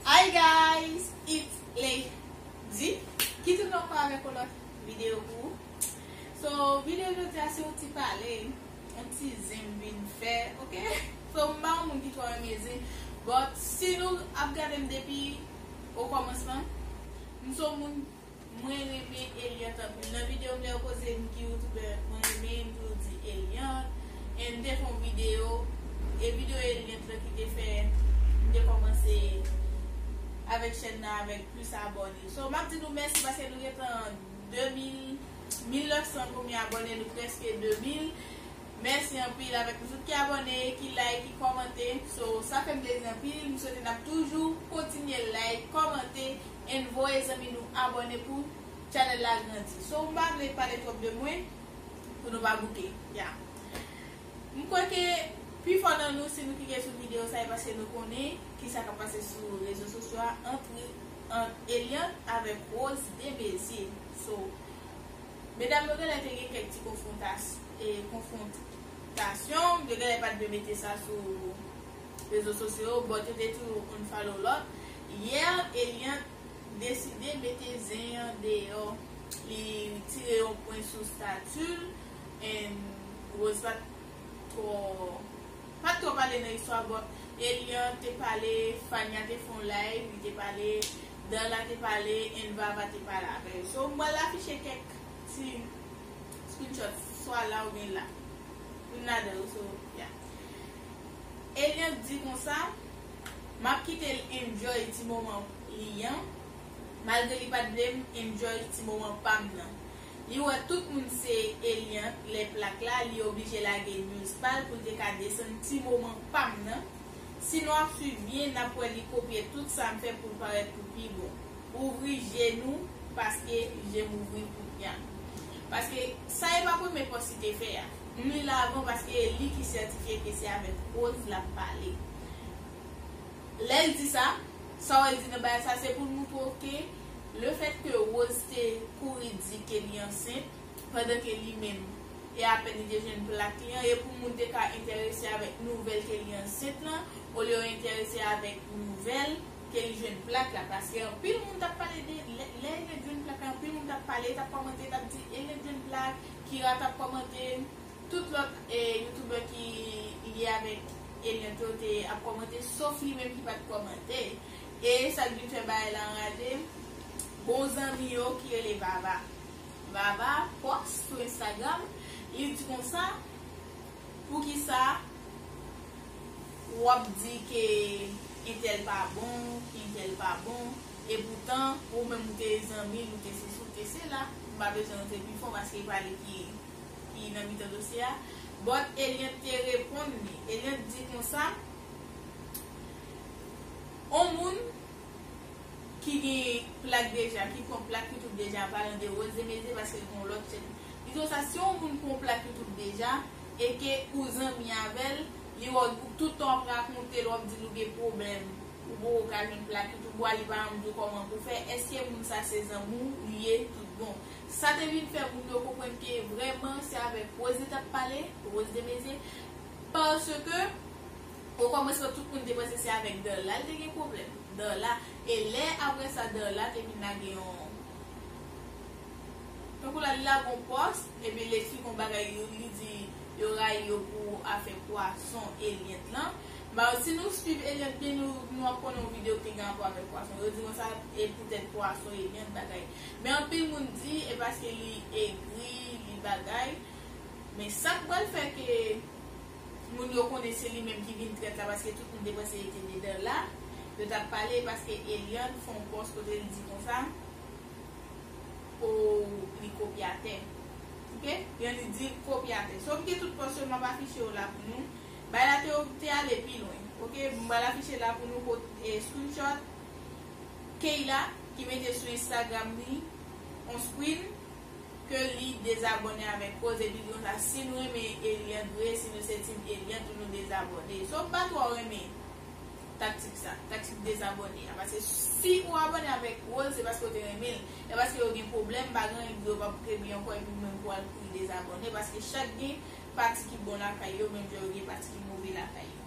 Hi guys it's Lady ki toune anko avek yon lot video pou ou so video jodi a se yon ti pale yon ti zen m vin fè ok so m pa yon moun ki tro renmen zen but si nou ap gade m depi o komans lan m son moun Mwen renmen Eliant anpil nan video m lè yo poze m ki youtuber mwen renmen m toujou di Eliant and m te fè yon video e video Eliant lan ki te fè m te kòmanse avèk chèn nan avèk plis abòne so map di nou mèsi paske nou gentan 2000 1900 konbyen abòne nou prèske 2000 mèsi anpil avèk nou tout ki abòne ki like ki kòmante so sa fè m plezi anpil m swete nap toujou kontinye like kòmante. and voye zanmi nou abone pou Channel la grandi so m pa vle pale trop de mwen pou nou pa bouke ya m kwè ke pi fò nan nou si nou klike sou video sa e paske nou konnen kisa kap pase sou rezo sosyo a antre ant Eliante avek Rose Demezier so medam yo genlè te gen kèk ti konfrontas e konfrontasyon yo genlè pat dwe mete sa sou. Rezo sosyo yo bon tete tou oun follow lòt hier Eliante deside mete zen an deyò li tire yon pwen sou statut l and Rose pat twò pat twò pale nan istwa but Eliante te pale Fania te fon live li te pale Darla te pale and Vava te pale avè yo so m pral afiche kèk ti screenshot swa la oubyen la youn ladan yo so yeah. Eliante di konsa, M ap kite l enjoy ti moman li an, malgre li pa t vle m enjoy ti moman pa m nan. Li wè tout moun se Eliante lè plak la, li oblije lage news pa l pou l te ka desann ti moman pa m nan. Si nou ap swiv byen, n ap wè li kopye tout sa m fè pou l parèt pou pi bon. Ouvri je nou paske je m ouvri pou Pian. Paske sa e pa premye pòs li te fè a. M li l avan paske e li ki sètifye ke se avèk pwoz l ap pale. Lè l di sa, sa w wè l di nan bagay sa se pou l montre w ke le fèt ke Rose te kouri di ke li ansent pandan ke li menm e apèn li te jwenn plak li an e pou moun te ka enterese avèk nouvèl ke li ansent lan olye yo enterese avèk nouvèl ke li jwenn plak la paske anpil moun t ap pale de lè Elliot jwenn plak la anpil moun t ap pale e t ap kòmante e t ap di Elliot jwenn plak Kira tap kòmante, tout lòt youtubè ki lye avèk Eliante yo te ap kòmante sof li menm ki pat kòmante e sak vin fè bagay la anraje bon zanmi yo ki rele Vava Vava pòs sou Instagram li di konsa poukisa wap di ke entèl pa bon ke entèl pa bon E poutan, ou menm ou te zanmi l, ou te sesi, ou te sela, m pa bezwen rantre pi fon paske e pa li ki ki nan mitan dosye a. But Eliante te reponn li. Eliante di konsa, On moun ki gen plak deja, ki pran plak YouTube deja pa lan de Rose Emeze paske l gen yon lòt chèn. Li di konsa, si on moun pran plak YouTube deja e ke ou zanmi avè l, li wè w tout tan w ap rakonte l, w ap di l ou gen pwoblèm Ou poko ka jwenn pla pit ou bwa li pa anmdyo kòman pou fè eske moun sa se zanmi w li ye tout bon sa te vin fè moun yo konprann ke vrèman se avèk Rose li tap pale Rose Demezier paske o kòmansman tout moun te panse se avèk Darla li te gen pwoblèm Darla e lè aprè sa Darla te vin lage yon tankou la li lage yon pòs epi li esplike yon bagay yo li di yo rayi yo pou afè pwason e lyent lan Maw si nou swiv Eliante byen nou nou ap konnen yon video ki gen rapò avèk pwason yo di mwen sa e poutèt pwason Eliante bagay men anpil moun di e paske li egri li bagay men sak pral fè ke moun yo konnen se li menm ki vin trèt la paske tout moun te panse li te dedan la yo tap pale e paske Eliante fè yon pòs kote li di konsa oo li kopyatè ok byen li di kopyatè sòf ke tout pòs yo map afiche yo la pou nou Bay la te ok te ale pi lwen ok m pral afiche la pou nou kot e screenshot Keyla ki mete sou instagram li on screen ke li dezabòne avèk koze bidon sa si nou renmen Eliante vre si nou se team Eliante pou nou dezabòne so m pa twò renmen taktik sa taktik dezabòne a paske si ou abòne avèk Rose se paske ou te renmen l e paske yo gen pwoblèm pa gen anyen k di yo pap k byen ankò epi ou menm pou al kouri dezabòne paske chak gen pati ki bon lakay yo, menm jan yo gen pati ki move lakay yo.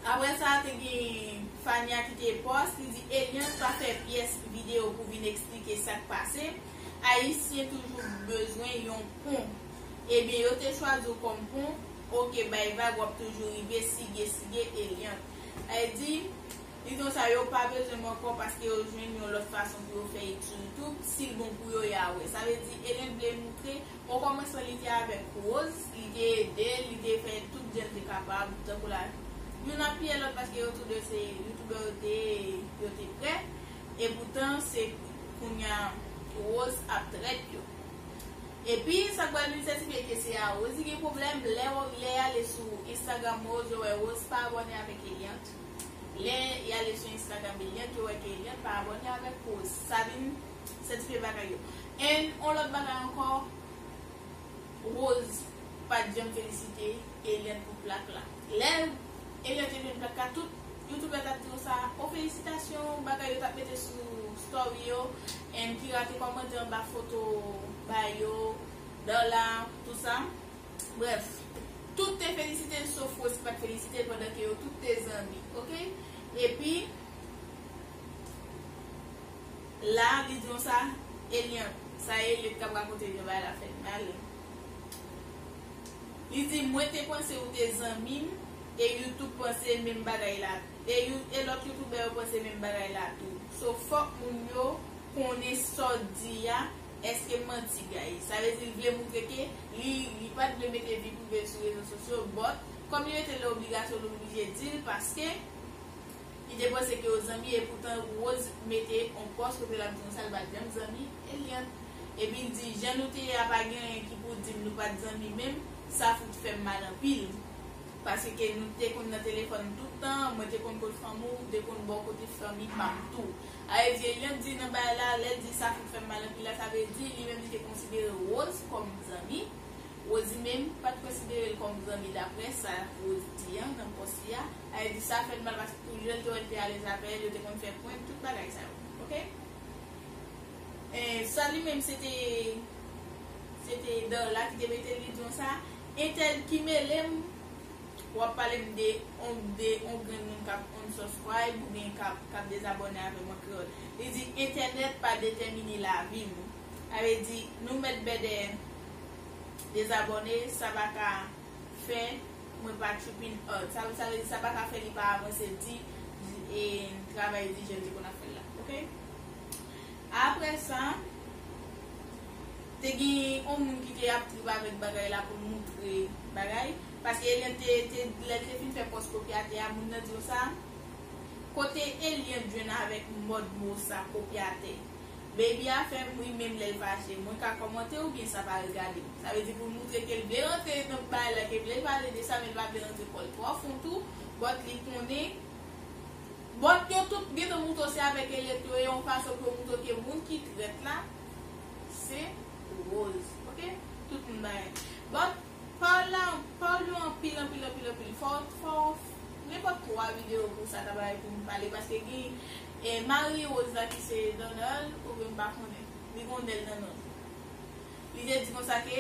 Aprè sa, te gen Fania ki te pòs, li di Eliante pa fè pyès videyo pou vin eksplike sa k pase, Ayisyen toujou bezwen yon pon. Ebyen yo te chwazi w kòm pon, ok bay vag w ap toujou rive, sige sige Eliante. Ayiti. Bidon sa yo pa bezwen m ankò paske yo jwenn yon lòt fason pou yo fè ek sou youtube sil bon pou yo ya wè sa vle di Elen vle moutre okòmansman li te avèk Rose li te edel li te fè tout jan l te kapab tankou la youn apiye lòt paske yo tou 2 se youtubè yo te ye e yo te prè epoutan se kounya Rose ap trèt yo epi sak pral vin sètifye ke se a Rose li gen pwoblèm lèw lè ale sou Instagram Rose ou wè Rose pa abòne avèk Eliant Lè y ale sou instagram Eliante yo wè ke Eliante pa abòne avèk kouz sa vin sètifye bagay yo and on lòt bagay ankò Rose pat janm felisite Eliante pou plak la lè Eliante te jwenn plak la tout youtubè tap di yo sa oh felisitasyon bagay yo tap mete sou story yo and Kira te kòmante anba foto Bayo Darla tout sa. Bref, tout te felisite l sof Rosie pat felisite l pandan ke yo tout te zanmi ok epi la li di konsa Eliante sa Eliot kap rakonte vye bagay la fèm mal li di mwen te panse ou te zanmi m e you tout panse menm bagay la e you e lòt youtoubè yo panse menm bagay la tou so fòk moun yo konnen sa w di a. Eske manti guys. Sa vle di l vle moutre ke li li pat vle mete vi prive l sou rezo sosyo but kòm li mete l nan obligasyon li oblije di l paske li te panse ke yo zanmi e poutan Rose mete on pòs kote lap di nou sa l pat janm zanmi Eliante epi l di jan nou te ye a pa gen anyen ki pou di m nou pat zanmi menm sa fout fè m mal anpil paske ke nou te konn nan telefòn tout tan mwen te konn kot fanmi w te konn ba w kote fanmi pa m tou Aedyelyon di nan bay la, lè l di sa fout fè m mal anpil la, sa vle di li menm li te konsidere Rose kòm zanmi. Rosie menm pa t konsidere l kòm zanmi daprè sa Rose di an nan pòs li a. Ae di sa fè l mal paske pou lè l te wè l te alèz avè l, yo te konn fè prank, tout bagay sa yo. Ok. Enh sa li menm se te se te Darla ki te mete l li di yon sa. Entèl ki mele m Wap pale m de on de on grenn moun kap unsubscribe ou byen kap kap dezabòne avè m an kreyòl. Li di entènèt pa detèmine lavi m. Sa vle di nou mèt bèdè dezabòne sa pa ka fè mwen pa chip in art. Sa sa vle di sa pa ka fè li pa avanse di e travay di jan l te konn ap fè l la ok. Aprè sa te gen on moun ki te ap trip avèk bagay la pou l moutre bagay. Paske Eliante te te lè li te fin fè pòs kopyatè a moun nan diw sa? Kote Eliante jwenn avèk mòd mo sa kopyatè? Baby a fèm ri menm lèl fache. Mwen ka kòmante oubyen sa pa regadem? Sa vle di poul moutre kel vle rantre nan bay la ke vlel pale de sa men li pa vle rantre kòl twò fon tou but li konnen but yo tout gentan moutre se avèk Eliante yo ye yon fason pou yo moutre ke moun ki trèt la se Rose ok tout moun bay but Paul la Paul yo anpil anpil anpil anpil fò fò nenpòt 3 video pou sa ta bay poum pale paske gen e mari Rose la ki se Donald oubyen m pa konnen li gon Nel nan nonl li te di konsa ke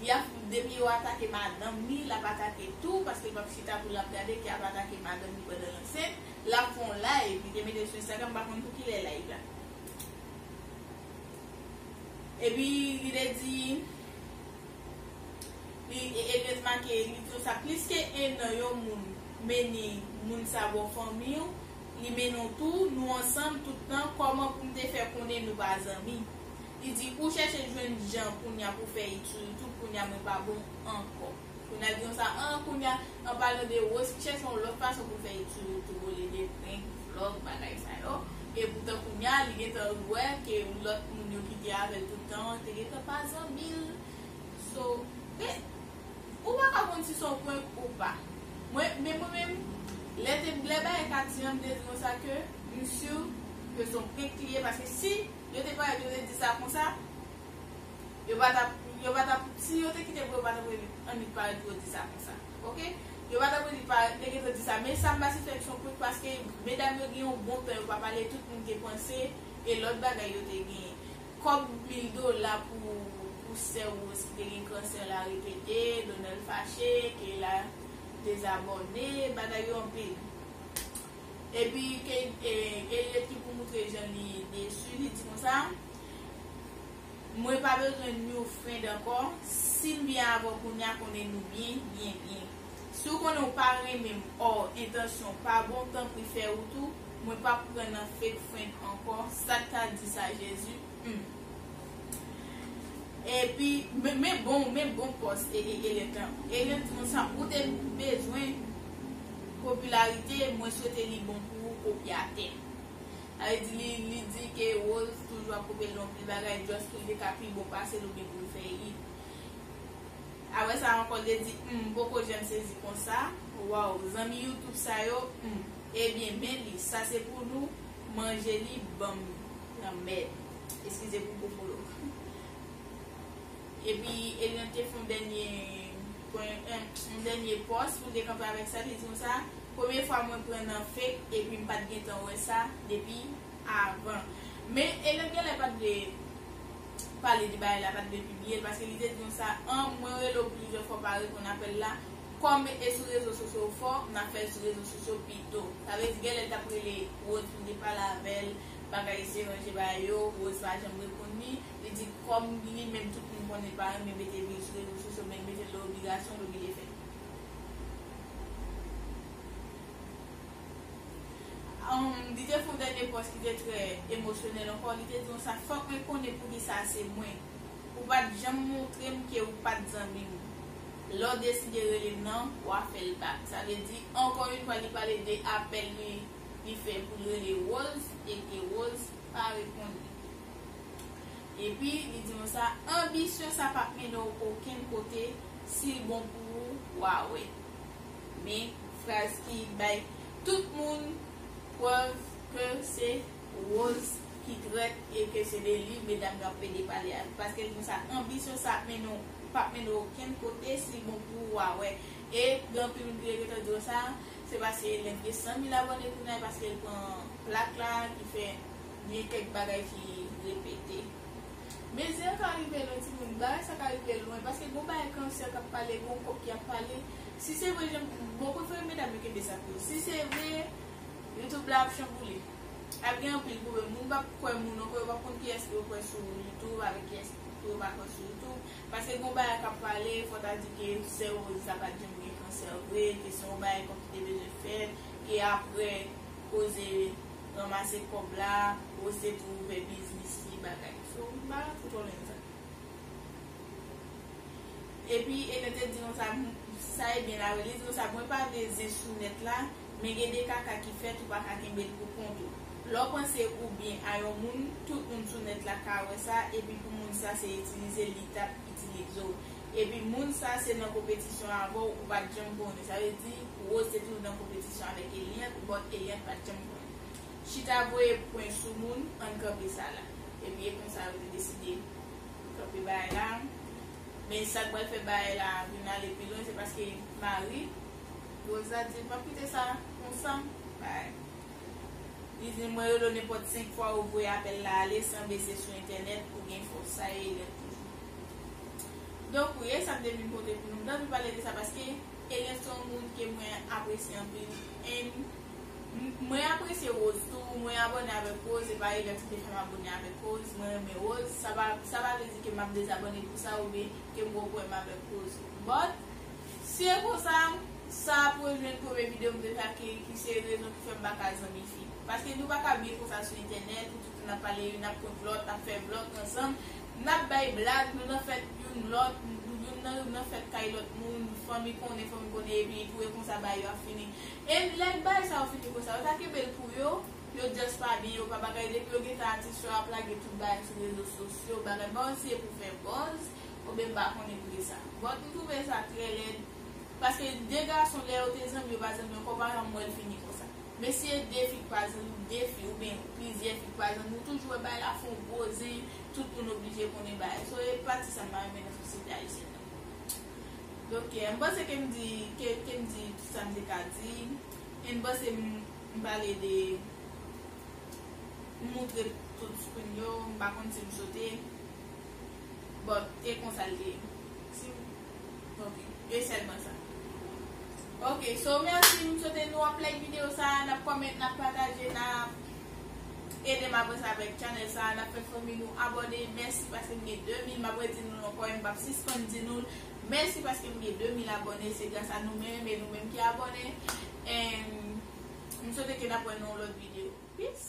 li ap depi yo atake madanm li lap atake tou paske l pap chita pou lap gade ke ap atake madanm li pandan l ansent lap fon live li te metel sou Instagram m pa konn pou kilè live la epi li te di. Li ebyen remake li diw sa plis ke 1 an yon moun meni moun sa baw fanmiw li meniw tou nou ansanm tout tan kòman poum te fè konnen nou pa zanmi li di ou chèche jwenn jan kounya pou fè it sou youtube kounya mwen pa bon ankò kounya li diw sa an kounya An palan de Rose chè son lòt fason pou fè ekri yo tou rele de prenk, vlog, bagay sa yo, e poutan kounya li gentan wè ke lòt moun yo ki te avèl tout tan an te gentan pa zanmil so men ou pa ka konn si son prank ou pa mwen men mwen menm lè te lè bagay te ati an m te di nou sa ke m sur ke son prank li ye paske si yo te parèt yo te di sa konsa Yo pa tap yo pa tap si yo te kite pou yo pa tap rele annik pa yo di sa konsa ok yo pa tap rele pa te gentan di sa men sam pase fèm son kout paske medam yo gen yon bon pè yo pa pale tout moun te panse e lòt bagay yo te gen kòb mil dola pou pou sè rose ki te gen kansè la repete donald fache keyla dezabòne bagay yo anpil epi ke Eliot ki pou moutre jan li desu li di konsa. Mwen pa bezwen new friend ankò, sim byen avèw kounya konnen nou byen, byen byen. Si w konnen w pa renmenm or entansyon w pa bon tanpri fè rout ou, mwen pap pran nan fake friend ankò, sat ka di sa Jezi humm. Epi men bon men bon pòs Elian t lan. Elian ti moun sa ou te bezwen popilarite mwen swete li bon pou ou kopyatè. Sa vle di li li di ke Rose toujou ap kopyel nan anpil bagay just poul te ka pi bon pasel oubyen poul fè hit. Aprè sa ankò li te di humm m poko janm sezi konsa waww zanmi youtube sa yo humm ebyen men li sa se pou nou manje li banm lanmèd eskize pou gwo bolo. Epi Eliante fon dènye. Pwen em yon dènye pòs pou m te kanpe avèk sa li di m sa premye fwa mwen pran nan fake epi m pat gentan wè sa depi avan men Elèn genlè pat vle pale de bagay la pat vle pibliye l paske li te di m sa an mwen rele w plizyè fwa w pa reponn apèl la kòm e sou rezo sosyo w fò na fè l sou rezo sosyo pito sa vle di genlè l tap rele Rose pou l te pale avè l bagay se ranje bagay yo Rose pa janm reponn li. li di kòm li menm tout moun konnen li pa renmen mete bri sou rezo sosyo men li mete l de obligasyon l oblije fè. Li te fè yon dènye pòs ki te trè emosyonèl ankò, li te di konsa, fòk mwen konnen poukisa se mwen. Ou pa t janm montre m ke ou pa t zanmi m. Lè w deside rele m nan, w a fè l bak. Sa vle di, ankò yon fwa li pale de apèl li fè pou l rele Rose e ke Rose pa reponn li. Epi li di nou sa, anbisyon sa pap mennen w okenn kote, si l bon pou ou, wa wè. Men fraz ki bay tout moun prèv ke se Rose ki trèt e ke se de li medam yo ap plede pale a. Paske li di nou sa, anbisyon sa ap mennen w, pap mennen w okenn kote, si l bon pou ou, wa wè. E gen anpil moun ki te gentan di nou sa, se paske Lène gen 100 mil abòne kounya, e paske l pran plak la ki fè Gen kèk bagay ki repete. Mezi an ka rive lwen timoun, bagay sa ka rive lwen paske gon bagay kansè kap pale, gon kòk ki ap pale, si se vre janm di, bon prefere medam yo kenbe sa pou yo, si se vre YouTube la ap chanboule, ap gen anpil pwoblèm, moun pap kwè moun ankò, yo pap konn kiyès pou yo kwè sou YouTube avèk kiyès pou yo pa kwè sou YouTube, paske gon bagay kap pale, fò ta di ke sè Rose la pat janm gen kansè vre, ke se yon bagay kòk ki te bezwen fèt, ke aprè koze. Ranmase kob la ou se pou ouve biznis li bagay. So m pa fout konnen sa. Epi Ene te di konsa sa e byen la wi li di konsa mwen pa vle zen sou net la men gen de kaka ki fet ou paka kenbe l pou kont ou. Le w panse ou byen a yon moun tout moun sou net la ka we sa epi pou moun sa se itilize li tap itilize w Epi moun sa se nan konpetisyon avè w ou pat janm konnen sa vle di Rose te toujou nan konpetisyon avèk Eliante but Eliante pat janm konnen Chita voye pwen sou moun ann kanpe sa la Epi e konsa yo te deside kanpe bagay la Men sak pral fè bagay la vin ale pi lwen se paske mari Rose la di l pap kite sa konsa Bagay Li di l mwen rele w nenpòt 5 fwa ou voye apèl la ale san bese sou entènèt ou gen fòs sa e Eliante toujou. Donk wi, e sa m te vin pote pou nou. M t anvi pale de sa paske Eliante se yon moun ke mwen apresye anpil and mwen apresye Rose tou. Mwen abòne avèk Rose, e pa Eliante ki te fè m abòne avèk Rose. Mwen renmen Rose, sa pa sa pa vle di ke m ap dezabòne pou sa oubyen ke m gwo pwoblèm avèk Rose. But, si e konsa, sa ap rejwenn premye videyo m te fè ak Keyy ki se rezon ki fè m pa ka zanmi fi. Paske nou pa ka byen konsa sou entènèt, nou tout n ap pale youn ap kont lòt, ap fè vlog ansanm, Nap bay blag, nou nan fèt youn lòt, youn nan nou nan fèt kay lòt moun, fanmi konnen, fanmi konnen epi itou e konsa bagay yo ap fini. E lè bagay sa yo fini konsa, yo ta kenbe l pou yo, yo just pa di yo pa bagay depi yo gentan atis yo ap lage tout bagay sou rezo sosyo, bagay bon an si e pou fè buzz oubyen m pa konnen pou ki sa. But m twouve sa trè lèd paske 2 gason lè yo te zanmi yo pa zanmi ankò, m pa janm wè l fini konsa. Men si e 2 fi k pa zanmi, 2 fi oubyen plizyè fi k pa zanmi ou toujou wè bagay la fon gwo zen, Tout moun oblije konnen bagay sa yo e pati sa mpa renmen nan sosyete ayisyèn nan. Donk m panse kem di kem di tout sam te ka di e m panse m pale de m moutre tout screen yo m pa konn sim sote but e konsa l te ye. Sim ok e sèlman sa. Ok so mèsi m swete nou ap like videyo sa nap comment nap pataje nap. Edem avanse avèk channel sa a nap fè fanmi nou abòne mèsi paskem gen 2 mil map redi noul ankò em pap sispann di noul mèsi paskem gen 2 mil abòne se gras a nou menm e nou menm ki abòne and m swete ke nap wè nan yon lòt video peace.